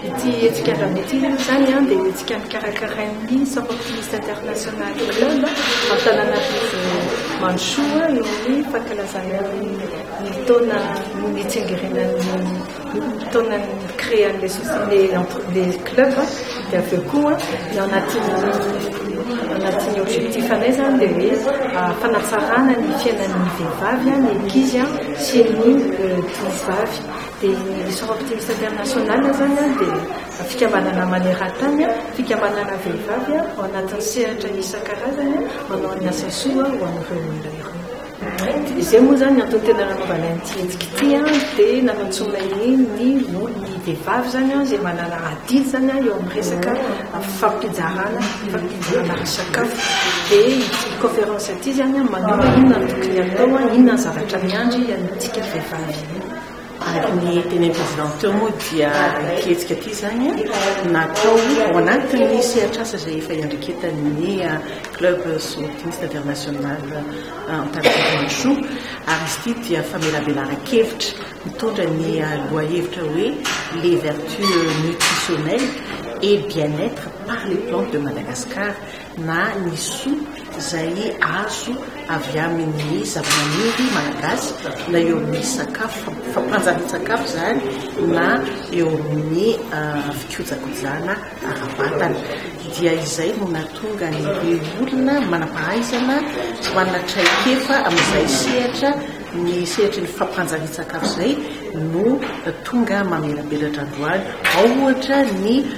Ity hetsika andramby ity aloha izany dia hetsika nikarakarain'ny Sapeurs-Pompistes International Club Antananarivo Mandrosoa noho ny fankalazana ny taona no nitsingerenan'ny taona créan'ilay société club dia avy eo koa ny anatin'ny anatin'ny objectif anay izany dia hoe ah, fanatsarana ny fiainan'ny vehivavy ny ankizy sy ny tovovavy euh, dia ny Mission Optimiste International izany dia fikambanana maneran-tany fikambanana vehivavy ao anatin'ny sehatra isan-karazany manao ny asa soa ho an'ireo olona ireo. Izay moa izany antony tena nanaovana ity hetsika ity dia nanantsoana ny ny vehivavy izany izay manana adidy izany eo amin'ny resaka fampizarana fampizarana sakafo dia ity conférence ity izany manao inona no tokony atao inona ny zavatra miandry antsika vehivavy Araka ny tenenin'ny Président teo moa dia ity hetsika ity izany natao ao anatin'ny sehatr'asa izay efa iandraiketan'ny Club Sortiste International Antananarivo Mandrosoa ary izy ity dia famelabelaran-kevitra mitondra ny lohahevitra hoe Les vertus nutritionnelles et bien-être par les plantes de Madagascar na ny soa izay azo avy amin'ny zavamaniry malagasy na eo amin'ny sakafo fampanjarian-tsakafo izany na eo amin'ny fikojakojana ara-batana dia izay no nahatonga ny be olona manam-pahaizana manana traikefa amin'izay sehatra ny sehatry ny fampanjarian-tsakafo izay no tonga mamelabelatra androany ao ohatra ny